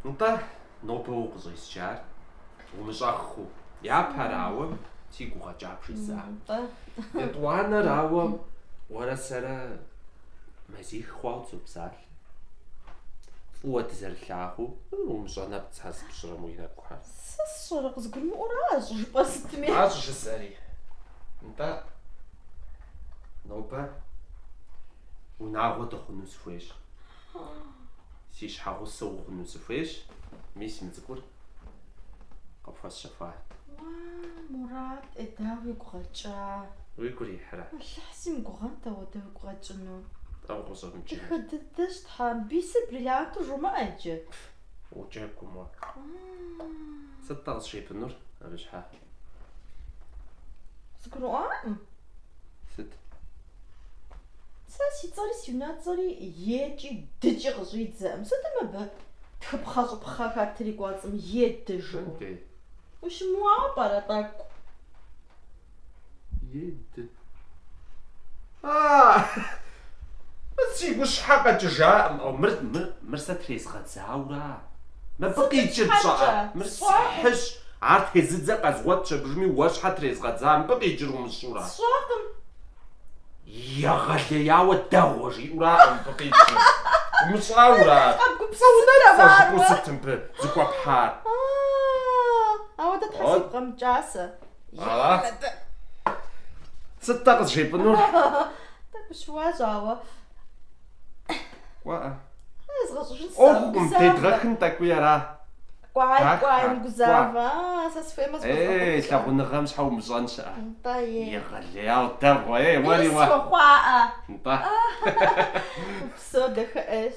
Нтӏэ, нобэ укъыщӏесчар умыщӏэххэу, япэрауэ си гу къэкӏа бжесӏа. Нтӏэ. Етӏуанэрауэ уэрэ сэрэ мазих хъуауэ дызопсалъэ. Фӏыуэ дызэрылъагъуу, умыщӏэ нэпцӏ зыпщӏырэм уи нэкӏухэр. Сэ сщӏэрэ, къызгурымыӏуэращ жыпӏэ сытми? Ащ жысӏэри. Нтӏэ, нобэ унагъуэ дыхъуну сыхуейщ. Си щхьэгъусэ ухъуну сыхуейщ. Мис мы цӏыкӏур къыпхуэсщэхуат. Уа, Мурат, ӏей дауэ уигу къэкӏа? Уигу ирихьрэ? Алыхь си мыгугъэнт ауэдэ уигу къэкӏыну. Тӏэу къыщӏэмыкӏыну. Дахэ дыдэщ, Тхьэм. Бисыр бриллианту жумыӏэ иджы. Пф, уджэгум уэ. Сыт-тӏэ къызжепӏынур абы щхьэ? Згурыӏуакъым. Сыт? Сэ си цӏэри си унэцӏэри екӏи дыкӏи къыщӏидзэкъым. Сыту мыбы тхыпхъэщӏыпхъэхэр тетри кӏуэцӏым е ды жиӏу. Дэ. Ущымыуауэ пӏэрэ тӏэкӏу? Е ды. Си гущхьэ къэкӏыжакъым. Мыр, мыр, мыр сэ трезгъэдзаура? Мыбы къикӏыр пщӏэӏэ? Мыр схьыщ. Ар тезыдзэ къэзгъуэтщ абыжми, уэ щхьэ трезгъэдза, мыбы къикӏыр умыщӏура? Сщӏэкъым. Егъэлеяуэ дэгъуэ жиӏураӏэ мыбы къикӏыр? Умыщӏаура? Къэбгупсысытэ ва ар уэ? Сыт мыбы зыхуэпхьар? Ауэдэ Тхьэ сигу къэмыкӏа сэ. Сыт-тӏэ къызжепӏынур? Тӏэкӏу щыуащ, ауэ. Кӏуэӏэ. Згъэщӏыжын ӏуэхукъым, дедгъэхын тӏэкӏуи ара. Кӏуай, кӏуай, мыгузавэ. А, сэ схуеймэ згъэщӏыжын. Ей, лъагъуныгъэм щхьэ умыщӏэн щыӏэ? Нтӏэ, е. Егъэлеяуэ дэгъуэ, ей, уэри уэ. Схуэхъуаӏэ. Нтӏэ. Псо дахэ ӏейщ.